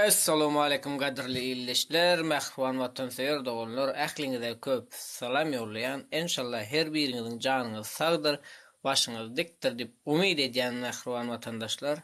Essalowmaleýkum gadyrly ildeşler, mähriban watansöýer doganlar, ähliňize köp salam ýollaýan, enşalla her biriňiziň janyňyz sagdyr, başyňyz dikdir diýip umyt edýän mähriban watandaşlar.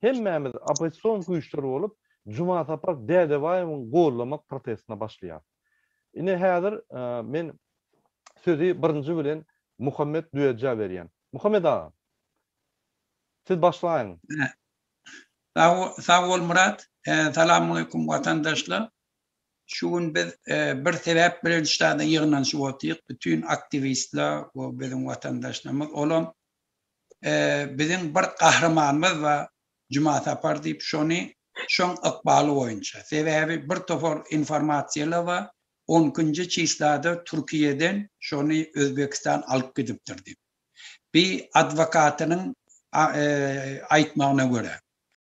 Hemmämiz oppozision güýçler bolup Jumasapar Dädebaýewiň gollamak protestine başlaýarys. Ine häzir men sözi birinji bilen Muhammet Düýejä berýän. Muhammet aga! Siz başlaýyň. Sag bol Myrat. Salamaleýkum watandaşlar. Şu gün biz bir sebäp bilen şu ýerde ýygnanyşyp otyrys, bütin aktiwistler we biziň watandaşlarymyz, olam biziň bir gahrymanymyz bar, Juma Sapar diýip, şony şoň ykbaly boýunça, sebäbi bir topar informasiýalar bar, on ikinji çyslada Türkiýeden şony Özbegistan alyp gidipdir diýip. Bi adwokatynyň aýtmagyna görä.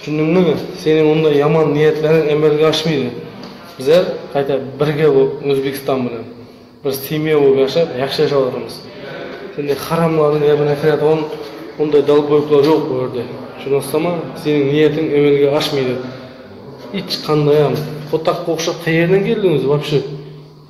Düşündiňmi? Seniň onda ýaman niýetleriň emelge aşmyly. Bize gaýta birge bu Özbegistan bilen bir semýa bolup ýaşap, ýagşy ýaşap oturmyz. Sende haramlaryň ýerine kirýätugan ondaý dalboýuklar ýok bu ýerde. Şuny yslama, seniň niýetiň emelge aşmyly. Iç, kandaýam. Hotak-gowşak haýerden geldiň özi wapşe?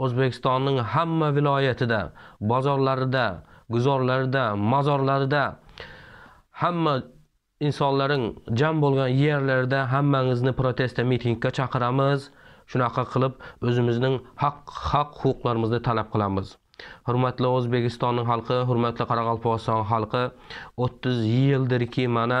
Özbegistanyň hemme welaýaty-da, bazarlary-da, güzarlary-da, mazarlary-da, hemme ynsanlaryň jem bolgan ýerleri-de hemmäňizni proteste mitingke çakyramyz, şunaka kylyp özümizniň hak hak-hukuklarymyzny talap kylamyz. Hormatly Özbegistanyň halky, hormatly Garagalpagystan halky otuz ýyldyrki mana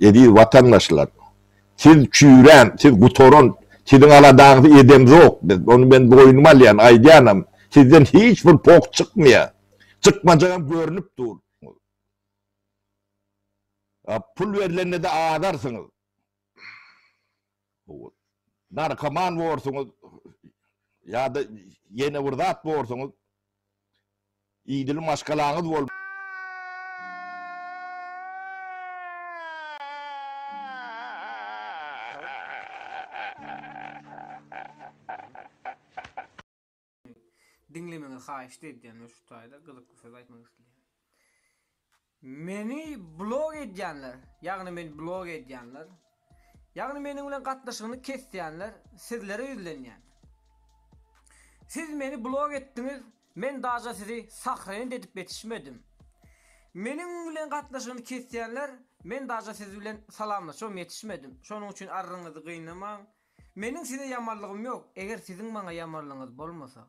Eziz watandaşlar, siz çüýrän, siz gutaran, siziň aladaňyzy edemzok biz. Ony men boýnuma alýan, aýdýanam. Sizden hiç bir pok çykmaýar. Çykmajagam görnüp dur. Pul berlende-de azarsyňyz. narkoman borsuňyz ýa-da ýene bir zat borsuňyz, idil maşgalaňyz bol. Diňlemegiňizi haýyşt edýän we şu taýda gyzykly söz aýtmak isleýän. Meni blog edýänler, ýagny meni blog edýänler, ýagny meniň bilen gatnaşygyny kesýänler sizlere ýüzlenýän. Siz meni blog etdiňiz, men daja sizi sahrent edip ýetişmedim. Meniň bilen gatnaşygyny kesýänler, men daja siz bilen salamlaşam ýetişmedim. Şonuň üçin arryňyzy gynamaň, Meniň size ýamanlygym ýok, eger siziň maňa ýamanlygyňyz bolmasa.